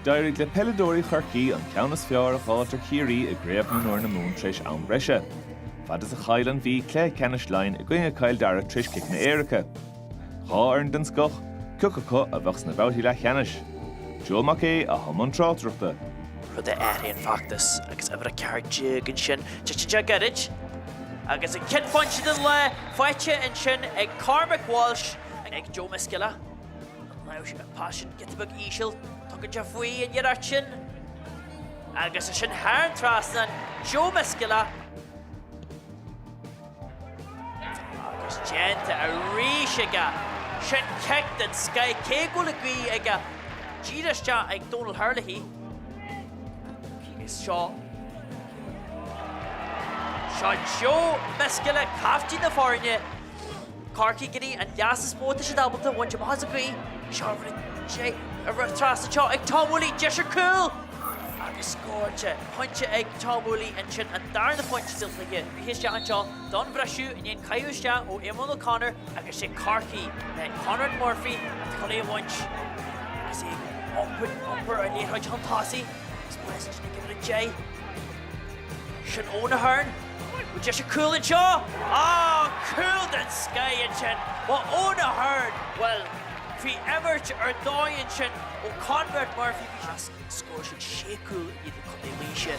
D'éirigh le peileadóirí Chorcaí an ceann is fearr a fháilt ar Chiarraí i gCraobh Mionúir na Mumhan tar éis am breise. Fad is a cháiligh an Mhí le cluiche ceannais Laighin i gcoinne Chill Dara tar éis ciceanna éirice, dhá fhoireann den scoth, cé acu a bheadh sna babhtaí leathcheannais. Joe Mac Aoidh i mbun tráchtaireachta. rud a athraíonn feachtas agus uimhir 14 ansin, teacht isteach gairid agus an chéad phointe den lá faighte ansin ag Cormac Walsh ag Joe Myscola. An raibh an pas sin giota beag íseal tugtha dó faoi an iarracht sin? Agus sin thar an trasnán, Joe Myscola. Agus déanta arís aige! Sin cic den scoith, cé go bhfuil an gaoth aige, dírithe isteach ag Donal Herlihy. Seo Joe Myscola, caiftín na foirne. Corcaigh go dtí an leas is mó atá siad ábalta a bhaint amach as an ghaoth seo trasna anseo ag Tom Woolley, deis ar chúl agus scóráilte pointe ag Tom Woolley ansin an darna phointe sa chluiche isteach anseo don bhreisiú i ndiaidh an caitheamh isteach ó Éamonn O'Connor agus sé Corcaigh le Conrad Murphy an t-imeartha a bhaint agus é ag iompar an liathróid chun tosaigh agus West ag imirt é. Sin Eoin Ahern. Bhfuil deis ar chúl anseo? Ááá, cúl den scoith ansin ó Eoin Ahern! Bhuel, bhí imirt ar dóigh ansin ó Conrad Murphy, bhí sé. as an scór sin, sé cúl i ndiaidh do Chontae Laoise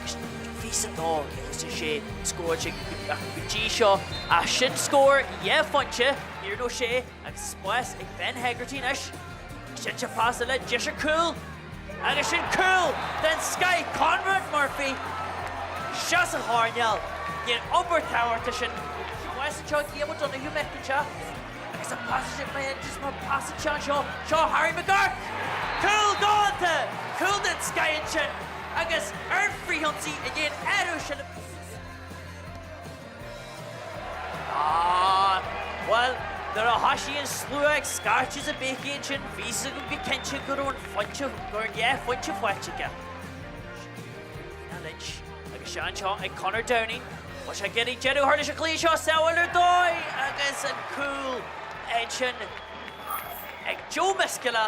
agus fios a ndó cé hé sa sé scór sin go dtí seo. Ach sin scór dhá phointe, níor nó sé. Agus spás ag Ben Hegarty anois, sin pas tá deis ar chúl, agus sin cúl den scoith, Conrad Murphy, seo sa choirnéal, níl iompar tabhartha sin. Sin bháis anseo, Liam Ó Donoghue meic anseo, agus an pás sin, ba é just mar pás anseo, anseo, seo Harry McGurk, cúl déanta, cúl den scoith ansin, agus ar an frithionsaí i ndiaidh iompú seilbhe. Ah. Bhuel, nuair a thoisigh an slua ag scairteadh is a béicigh ansin, bhí's agam go cinnte go raibh an phointe, dhá phointe faighte aige. Lynch agus sé anseo ag Conor Downing. Tá sé ag iarraidh deireadh a chur leis an gcluiche seo, sábháil ar dóigh! Agus an cúl ansin ag Joe Myscola.